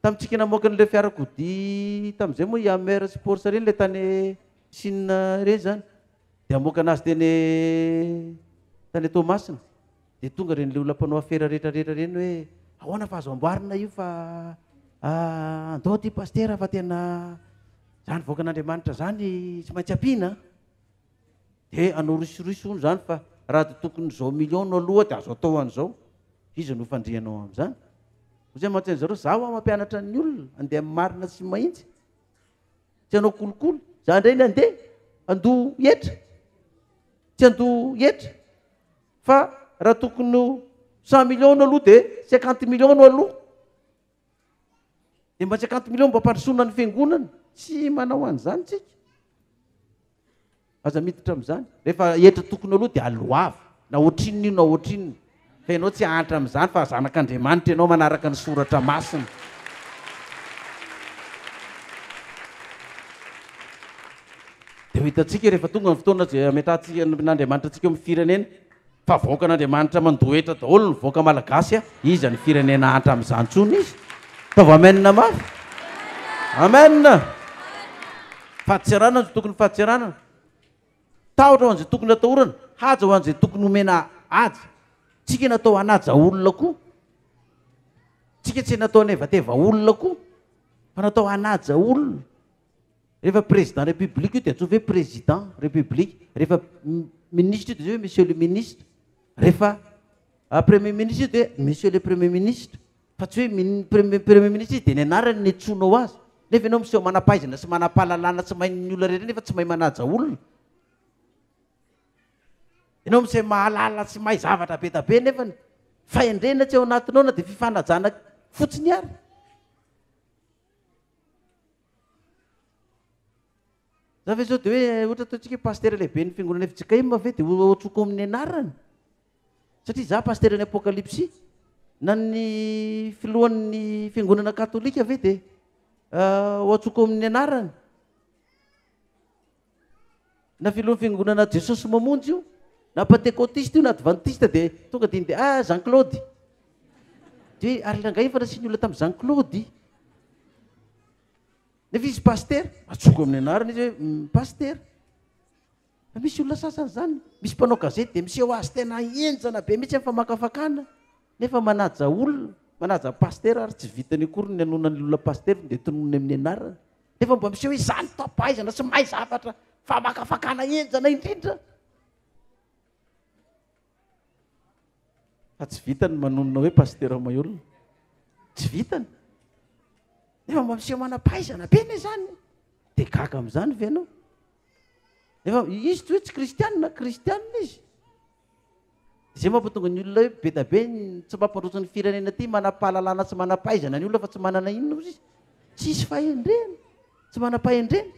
Tamintsika namoaka an'ilay fiarakodia tamin'izay moa i Hammer sy Porsche ireny ilay tany Chine ireny izany dia hamoaka anazy teny tany Toamasina dia tonga ireny ilay olona mpanao afera rehetra rehetra ireny hoe ahoana fa azo amboarina io fa ah, andao ty pastera fa tena izany voakan'Andriamanitra izany tsy maintsy ampiana De anao risoriso hono zany fa raha de tokony zao million no aloha de azo atao an'zao. Iza no fandrianao am'zany? Ho zay mantsy an'zareo za hoa mampianatra ny olona ande am marina sy mahintsy. Tsy anao kolikoly. Za ndray ny ande ando hetra. Tsy ando hetra fa raha tokony ho cent million no aloha de cinquante million no aloha. Dia mba tsy akanto mileo mba ampandrosoana ny fiangonana. Tsy manao an'izany tsika. Aza miditra amin'izany. Rehefa hetra tokony aloha dia aloava. Na ohatrinona io na ohatrinona. Fa ianao tsy hahantra amin'izany fa zanak'Andriamanitra ianao manaraka ny soratra masina. Dia ho hitantsika rehefa tonga ny fotoana ametrahantsika an'Andriamanitra antsika eo amin'ny firenena. Fa vahoakan' Andriamanitra mandoa hetra daholo ny vahoaka malagasy a! Iza ny firenena hantra amin'izany intsony izy? Ataovy amen mafy! Amen! Fahatseranana izay tokony fahatseranana. Tahotra ho an'izay tokony atahorana, haja ho an'izay tokony homena haja. Tsika natao hanaja olona koa. Tsika tsy natao hanevateva olona koa, fa natao hanaja olona. Rehefa président république io dia antsoina hoe président république, rehefa ministre io dia hoe monsieur le ministre, rehefa premier ministre io dia monsieur le premier ministre, fa tsy hoe premier premier ministre izy dia ny anarany no iantsoanao azy, nefa ianao miseho manampahaizana sy manampahalalana tsy main'ny olona rehetra nefa tsy mahay manaja olona, ianao miseho mahalala sy mahay zavatra be dia be nefa ny fahendrena tsy ao anatinao na dia fifanajana fotsiny ary. Za ve zao de hoe ohatra ataontsika pasitera lehiben'ny fiangonana fjkm ve de ho atsoko amin'ny anarany? Satria za pasitera ny apokalypsy na ny filohan'ny fiangonana katolika ve de ho atsoko amin'ny anarany? Na filohan'ny fiangonana Jesosy mamonjy io, na pantekotista io na advantista dia tonga dia indeha ah Jean Claude. Dia hoe ary rangahy efa nasian'ny olona tamin'i Jean Claude. Nefa izy pasitera, atsoaka amin'ny anarana izy hoe mm, pasitera. Fa misy olona sasany izany, misy mpanao gazety dia miseho azy tena henjana be mihitsy amin'ny famakafakana nefa manaja olona, manaja pasitera ary tsy vitany akory ny hanonany olona pasitera dia tononony amin'ny anarana. Nefa mba miseho izany tapaizana sy mahay zavatra famakafakana enjana indrindra. Fa tsy vitany manonona hoe pasitera Maheulona. Tsy vitany. Nefa mba miseho manam-pahaizana be ne zany. Dia gaga amin'izany ve ianao? Nefa izy toy tsy kristianina, kristianina izy. Zay mampatonga ny olona hoe be da be ny tsy mampandroso ny firenena ty manapahalalana sy manapahaizana ny olona fa tsy manana inona ozy izy tsisy fahendrena tsy manapahendrena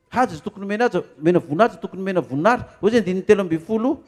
haja izy tokony mena aja mena vonaja tokony mena vonary o zay andininy telo ambin'ny folo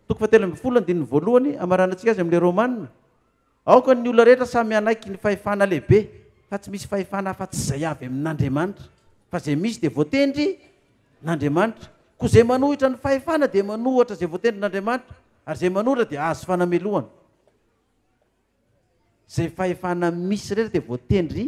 toko fa telo ambin'ny folo andininy voalohany amaranan-tsika azy amin'le romanina Aoka ny olona rehetra samy hanaiky ny fahefana lehibe, fa tsy misy fahefana afa-tsy izay avy amin'Andriamanitra, fa izay misy dia voatendry n'Andriamanitra. Koa izay manohitra ny fahefana dia manohatra izay voatendry n'Andriamanitra, ary izay manohitra dia hahazo fanamelohana. Izay fahefana misy rehetra dia voatendry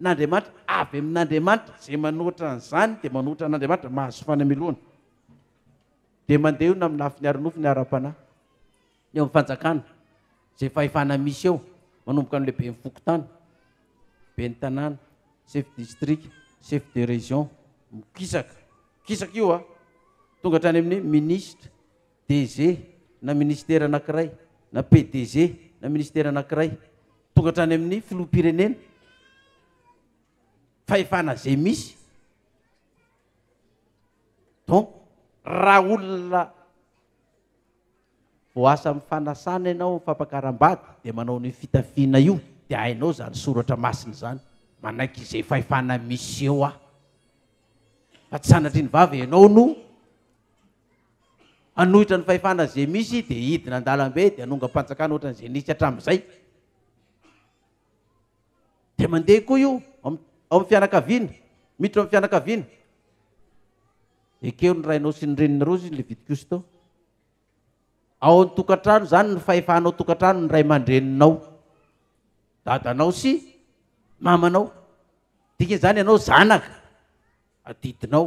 n'Andriamanitra, avy amin'Andriamanitra, izay manohitra an'izany dia manohitra an'Andriamanitra, mahazo fanamelohana. Dia mandeha eo na amin'ny lafiny ara-nofo ny ara-panahy. ny eo amin'ny fanjakana, izay fahefana misy eo, manomboka amin'ilay ben'ny fokontany, ben'ny tanàna, chef distrika, chef de région, mikisaka, mikisaka io an, tonga hatrany amin'ny minisitra, DG na ministera anankiray, na PDG na ministera anankiray, tonga hatrany amin'ny filoham-pirenena, fahefana izay misy, donc raha olona. Vao asa am fanasana ianao fampakaram-bady dia manao an'io fitafiana io dia hainao izany soratra masina izany. Manaiky izay fahefana misy eo aho. Fa tsy sanatria ny vava ianao no hanohitra ny fahefana izay misy dia hidina an-dalambe dia hanongam-panjakana ohatran'izay nisy hatramin'izay. Dia mandeha koa io ao amin'ny fianakaviana, miditra amin'ny fianakaviana. Ekeo ny rainao sy ny reninao izay vidy kosto. Ao an-tokantrano izany ny fahefana ao an-tokantrano ny ray aman-dreninao, dadanao sy mamanao. Dikan'izany ianao zanaka, adidinao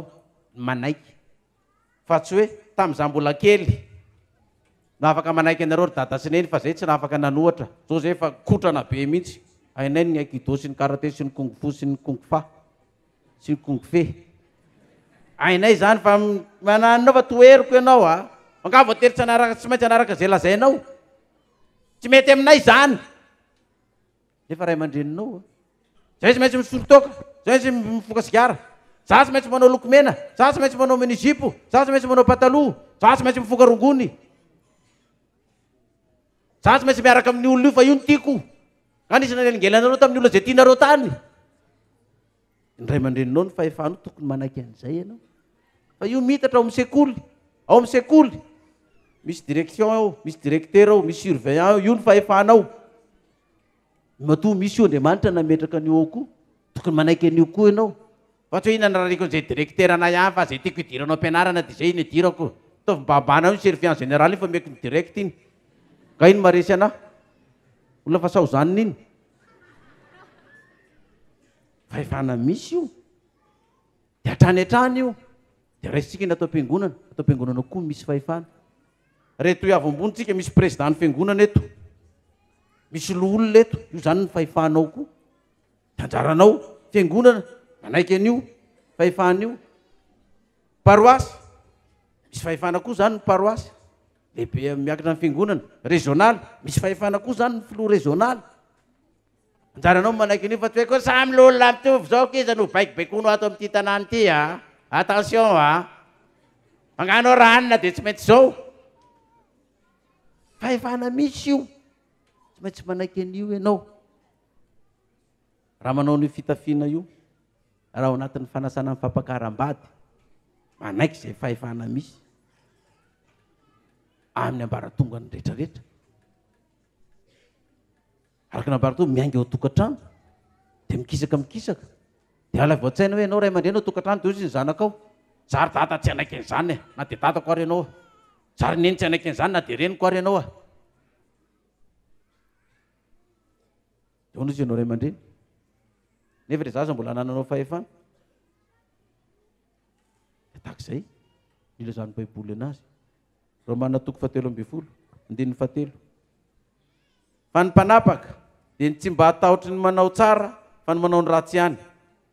ny manaiky fa tsy hoe tamin'izaho mbola kely no afaka manaiky anareo ry dada sy neny fa izay tsy nafaka nanohatra, izao izay efa kotrana be mihitsy, hainay ny aikido sy ny karate sy ny kung fu sy ny kung fa. Tsy kongfe. Hainay izany fa mananonao fa toheriko ianao a! Angaha voatery tsy hanaraka tsy maintsy hanaraka izay lazainao? Tsy mety aminay izany! Nefa ray aman-dreninao a! Zay tsy maintsy misolo toaka, zay tsy maintsy mifoka sigara, za tsy maintsy manao lokomena, za tsy maintsy manao mini-zipo, za tsy maintsy manao pataloha, za tsy maintsy mifoka rongony. Za tsy maintsy miaraka amin'ny olona io fa io no tiako. Nga nisy nanelingelina anareo tamin'ny olona izay tianareo tany? Ny ray aman-dreninao ny fahefanao tokony manaiky an'izay ianao. Fa io mitatra ao amin'ny sekoly, ao amin'ny sekoly. Misy direction ao, misy directeur ao, misy surveillant ao, io ny fahefanao. Matoa misy io Andriamanitra nametraka an'io ao koa. Tokony manaiky an'io koa ianao. Fa tsy hoe inona ny rariko an'izay directeranay hafa, izay tiako hidiranao am-pianarana dia izay iny hidirako. Ataovy mibahambana eo ny surveillant général iny fa omeko ny direct iny. Nga iny maharesy anà? Olona fa sao zanona iny. Fahefana misy io. Dia hatrany hatrany io. Dia raisintsika ny ato am-piangonana. Ato am-piangonana koa misy fahefana. Reto eo ambonitsika misy président ny fiangonana eto. Misy loholona eto. Io izany ny fahefanao koa. De anjaranao fiangonana manaiky an'io fahefana io. Paroasy, misy fahefana koa zany ny paroasy, lehibe am- miankina amin'ny fiangonana. Rezônaly, misy fahefana koa zany ny filoha rezônaly. Anjaranao ny manaiky an'io fa tsy hoe koa samy lolona mitovy zao k'iza no hobaikobaikoinao ato amin'ity tanàna ity a! Attention a! Angano raha any na de tsy maintsy zao. Fahefana misy io, tsy maintsy manaiky an'io ianao. Raha manao an'io fitafiana io, raha ao anatin'ny fanasana ny fampakaram-bady, manaiky izay fahefana misy amin'ny ambaratongany rehetrarehetra. Araka ny ambaratongany, miainga ao an-tokantrano, dia mikisaka mikisaka. Dia alaivo an-tsaina hoe ianao ray aman-dreny ao an-tokantrano dia hoy izy ny zanakao, izaho ry dada tsy hanaiky an'izany e, na dia dadako ary ianao, izaho ry neny tsy hanaiky an'izany na dia reniko ary ianao. Ahoana izy ianao ray aman-dreny? Nefa ilay zaza mbola anananao fahefana. Dia tahaka izay nilazan'ny Baiboly anazy. Romana toko fahatelo ambin'ny folo, andininy fahatelo. Fa ny mpanapaka dia ny tsy mba hatahotry ny manao tsara fa ny manao ny ratsy ihany.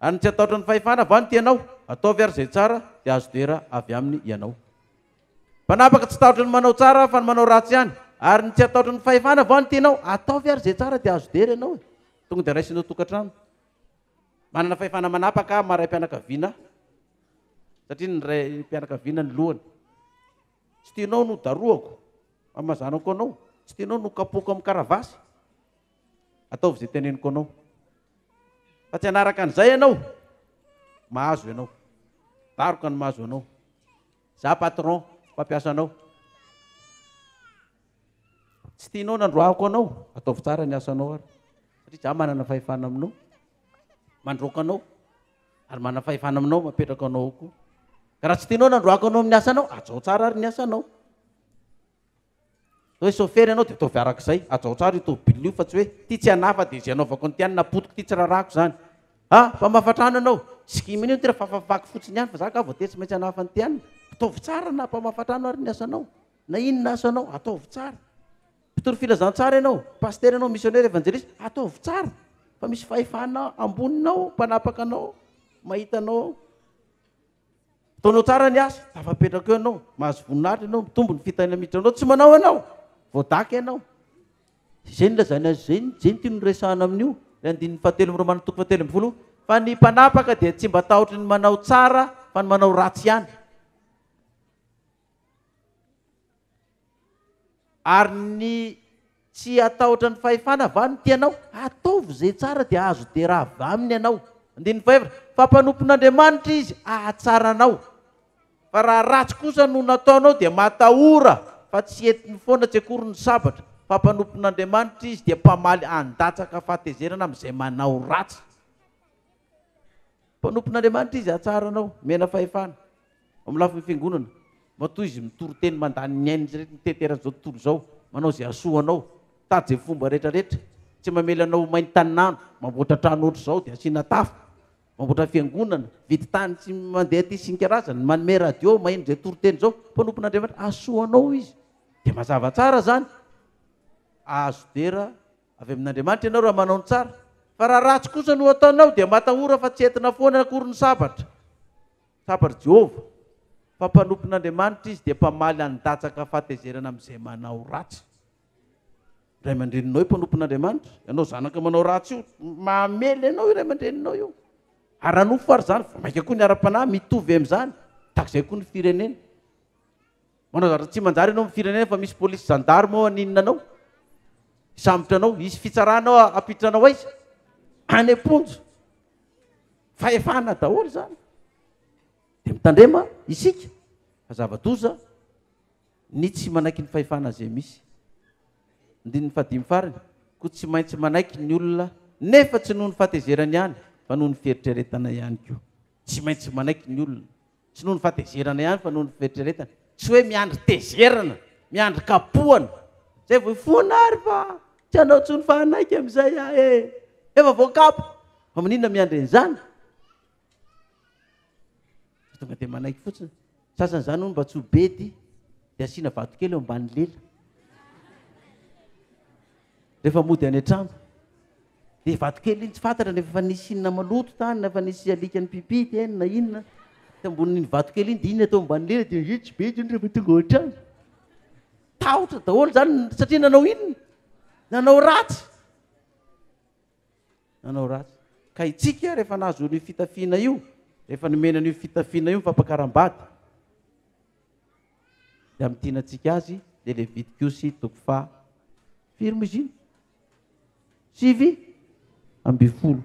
Ary ny tsy hatahotry ny fahefana va no tianao? Ataovy ary izay tsara dia azo dera avy aminy ianao. Mpanapaka tsy tahotra ny manao tsara aho fa ny manao ratsy ihany. Ary ny tsy hataotry ny fahefana vao ny tenao. Ataovy ary izay tsara dia azo dera ianao e. Tonga dia raisinao tokantrano. Manana fahefana manapaka aho maha raim-pianakaviana ahy. Satria ny raim-pianakaviana ny lohany. Tsy tianao no darohako amazanako anao. Tsy tianao no kapohiko amin'ny karavasy. Ataovy izay teneniko anao. Fa tsy hanaraka an'izay ianao. Mahazo ianao. Daroka ny mahazo anao. Za patron, mpampiasa anao. Tsy tianao nandroahako anao, ataovy tsara ny asanao ary. Satria za manana fahefana aminao, mandroaka anao, ary manana fahefana aminao mapetraka anao ao koa. Ka raha tsy tianao nandroahako anao amin'ny asanao, ajao tsara ary ny asanao. Zao hoe chauffeur ianao dia ataovy araka izay, ajaotra ary io tomobilina io fa tsy hoe ity tsy anah fa dia izay anaovako ny tiany na potiko ity tsy rarahako izany. Ha! fa mafatrano ianao. Tsy mino ny tena fa fafafako fotsiny ihany fa za angaha vao tetsy maintsy hanaha fa ny tiany. Ataovy tsara na mpamafatrano ary ny asanao, na inona asanao, ataovy tsara. Mpitory filazantsara ianao, pasitera ianao, misionera, evanjelista, ataovy tsara fa misy fahefana amboninao mpanapaka anao mahita anao ao. Ataonao tsara ny asa, tafapetraka eo ianao, mahazo voninahitra ianao, mitombo ny fitahiana miditra aminao, tsy manao anao, voadaka ianao. Izay no lazaina azy izay, izay no tiany ho resahana amin'io, ilay andininy fahatelo amin'ireo manana toko fahatelo ambin'ny folo, fa ny mpanapaka dia tsy mba tahotry ny manao tsara fa ny manao ratsy ihany. Ary ny tsy hatahotra ny fahefana va no tianao? Ataovy izay tsara dia azo dera avy aminy ianao. Andininy fahaefatra, Fa mpanompon'Andriamanitra izy hahatsara anao. Fa raha ratsy kosa no nataonao dia matahora fa tsy entiny foana tsy akory ny sabatra, fa mpanompon'Andriamanitra izy dia mpamaly handatsaka fahatezerana amin'izay manao ratsy. Mpanompon'Andriamanitra izy hahatsara anao, omena fahefana. Amin'ny lafiny fiangonana, matoa izy mitory teny mandany ny ain'izy rehetra mitety eran'izao tontolo izao, manao izay hahasoa anao. Mitady izay fomba rehetra rehetra. Tsy mamela anao ho main'ny tanin'andro. Mamboatra trano ohatr'izao dia asiana tafo. Mamboatra fiangonana. Mividy tany sy mandeha aty sy ny karazany. Manome radio maheno izay toriteny izao. Mpanompon'Andriamanitra. Hahasoa anao izy. Dia mazava tsara izany. Hahazo dera avy amin'Andriamanitra ianao raha manao ny tsara. Fa raha ratsy kosa no ataonao dia matahora fa tsy entina foana akory ny sabatra. Tsapa ry Jehovah, fa mpanompon'Andriamanitra izy dia mpamaly handatsaka fahatezerana amin'izay manao ratsy. Ray aman-dreninao io mpanompon'Andriamanitra, ianao zanaka manao ratsy io, mamely anao io ray aman-dreninao io. Ara-nofo ary izany, vao mainka koa ny ara-panahy mitovy amin'izany, tahaka izay koa ny firenena. Manao zavatra tsy manjary ianao amin'ny firenena fa misy polisy gendarme ao haninona anao. Hisambotra anao, hisy fitsarana ao hampiditra anao aiza? Any am-ponja. Fahefana daholo izany. Dia mitandrema isika fa zava-doza ny tsy manaiky ny fahefana izay misy. Andininy fahadimy farany, koa tsy maintsy manaiky ny olona nefa tsy noho ny fahatezerany ihany fa noho ny fieritreretana ihany koa. Tsy maintsy manaiky ny olona. Tsy noho ny fahatezerana ihany fa noho ny fieritreretana. Tsy hoe miandry tezerana, miandry kapohana, zay vao hifoana ary fa tsy hanao intsony fa hanaiky amin'izay aho e! Efa voakapoka! Fa maninona miandry an'izany? Fa tonga dia manaiky fotsiny. Sasany izany hono mba tsy ho bedy dia asiana vatokely eo ambany lela. Rehefa mody any an-trano. Dia vato kely iny tsy fantatra nefa efa nisy inona maloto tany na efa nisy alika nipipi teny na inona teo ambonin'iny vato kely iny dia iny atao ambany lela dia iny tsy be intsony rehefa tonga ao an-trano. Tahotra daholo izany satria nanao inona? Nanao ratsy. Nanao ratsy. Ka itsika rehefa nahazo an'io fitafiana io, rehefa nomena an'io fitafiana io ny fampakaram-bady, dia amin'ny tiana antsika azy dia ilay vidy-kosy toko faha, firy moa izy iny? Sivy ambin'ny folo.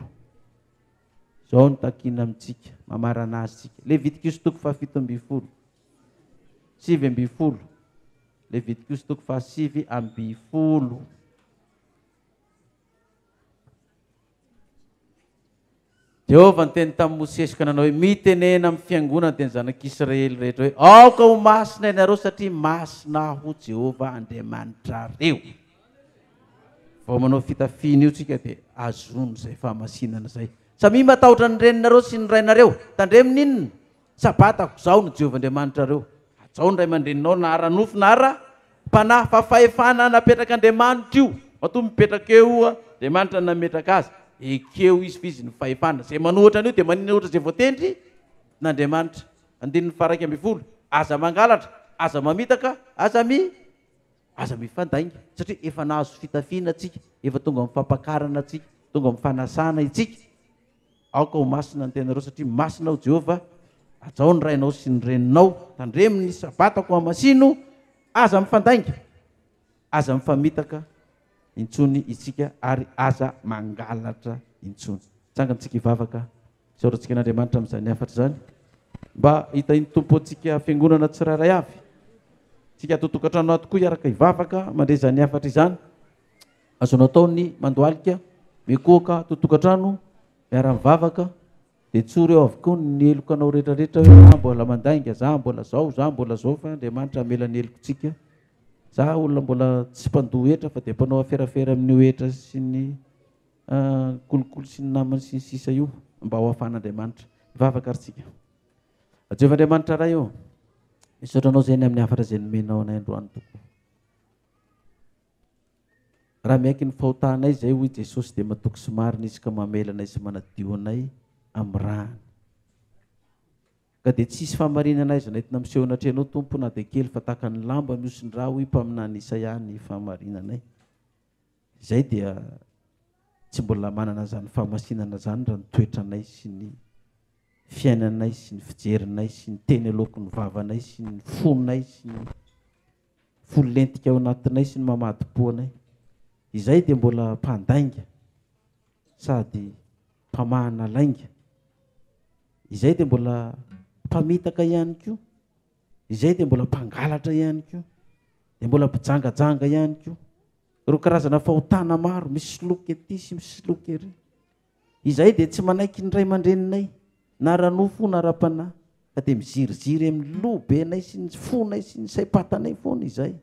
Izao no takiana amintsika, mamarana azy isika. Levitikosy toko fahafito ambin'ny folo. Sivy ambin'ny folo. Levitikosy toko fahasivy ambin'ny folo. Jehovah niteny tamin'i Mosesy ka nanao hoe, Mitenena amin'ny fiangonana dia ny zanak'Israely rehetra hoe, Aoka ho masina ianareo satria masina Aho Jehovah Andriamanitrareo. Vao manao fitafiana io tsika dia azon'izay fahamasinana izay. Samia matahotra ny reninareo sy ny rainareo. Tandremo ny inona? Sabata, Izaho no Jehovah Andriamanitrareo. Hajao ny ray aman-dreninao na ara-nofo na ara-panahy, fa fahefana napetrak'Andriamanitra io. Matoa mipetraka eo Andriamanitra no nametraka azy, ekeo izy fa izy no fahefana. Izay manohitra an'io dia maninohitra izay voatenrin'Andriamanitra. Andininy faharaika ambin'ny folo, Aza mangalatra, aza mamitaka, aza mi, aza mifandainga, satria efa nahazo fitafiana tsika, efa tonga amin'ny fampakarana tsika, tonga amin'ny fanasana itsika. Aoka ho masina ny tenanareo, satria masina Aho, Jehovah. Hajao ny rainao sy ny reninao. Tandremo ny Sabatako, hamasino. Aza mifandainga, aza mifamitaka intsony isika, ary aza mangalatra intsony. Tsangantsika hivavaka. Isaorantsika an'Andriamanitra amin'izany hafatra izany, mba hitahin'ny Tompo antsika fiangonana tsirairay avy. Isika ato an-tokantrano ato koa hiaraka hivavaka mandre izany hafatra izany. Azonao atao ny mandohalika, mikohoka ato tokantrano, miara-mivavaka, dia tsory ao avokoa ny helokanao rehetrarehetra hoe za mbola mandainga, za mbola zao, za mbola zao fa Andriamanitra hamela ny helokontsika. Za olona mbola tsy mpandoa hetra fa dia mpanao aferafera amin'io hetra sy ny kolikoly sy ny namany sy ny sisa io mba ho afan'Andriamanitra. Mivavaka ary tsika. Jehovah Andriamanitra Ray ô, misaotra anao zay ny amin'ny hafatra zay nomenao anay androany tokoa. Raha miaiky ny fahotanay izay, hoy Jesosy, dia matoky sy marina Izy ka mamela anay sy manadio anay amin'ny ràny. Ka dia tsy hisy fahamarinana aiza nentina miseho anatrehanao, Tompo, na dia kely, fa tahaka ny lamba mihosin-drà, hoy mpaminany Isaia, ny fahamarinanay. Izay dia tsy mbola manana izany fahamasinana izany raha ny toetranay sy ny fiainanay sy ny fijerinay sy ny teny aloaky ny vavanay sy ny fonay sy ny Volentika ao anatinay sy ny mamadimpo anay. Izahay dia mbola mpandainga sady mpamahana lainga. Izahay dia mbola mpamitaka ihany koa. Izahay dia mbola mpangalatra ihany koa. Dia mbola mpijangajanga ihany koa. Ireo karazana fahotana maro, misoloky ety sy misoloky ery. Izahay dia tsy manaiky ny ray aman-dreninay na ara-nofo na ara-panahy, fa dia miziriziry amin'ny loha-benay sy ny fonay sy ny saim-patanay foana izahay.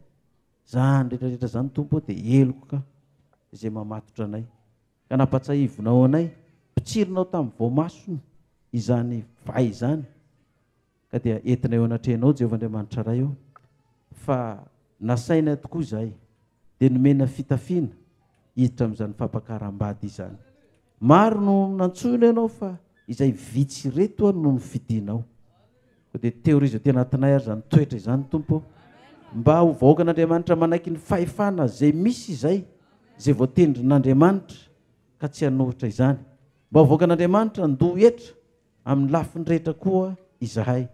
Izany rehetrarehetra izany, Tompo ô, dia heloka izay mamatotra anay. Ka nampatsiahivinao anay, mpitsirinao tamin'ny voamasony izany vay izany, Ka dia entina eo anatrehanao, Jehovah Andriamanitra Ray ô, fa nasainay tokoa izahay, dia nomena fitafiana hiditra amin'izany fampakaram-bady izany. Maro no nantsoina ianao fa izay vitsy ireto no nofidinao. Ko dia teorizo aty anatinay ary izany toetra izany, Tompo. Mba ho vahoakan'Andriamanitra manaiky ny fahefana izay misy izay, izay voatendrin'Andriamanitra ka tsy hanohitra izany. Mba ho vahoakan'Andriamanitra handoa hetra amin'ny lafiny rehetra koa izahay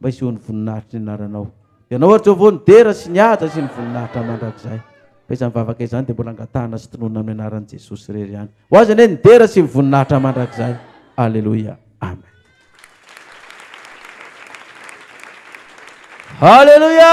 mba hisehoan'ny voninahitry ny anaranao. Dia Ianao, ry Jehovah, no dera sy ny haja sy ny voninahitra mandrakizay. Fa izany vavaka izany dia mbola angatahana sy tononina amin'ny anaran'i Jesosy irery ihany. Ho Azy anie ny dera sy ny voninahitra mandrakizay. Aleloia. Amen. Aleluia!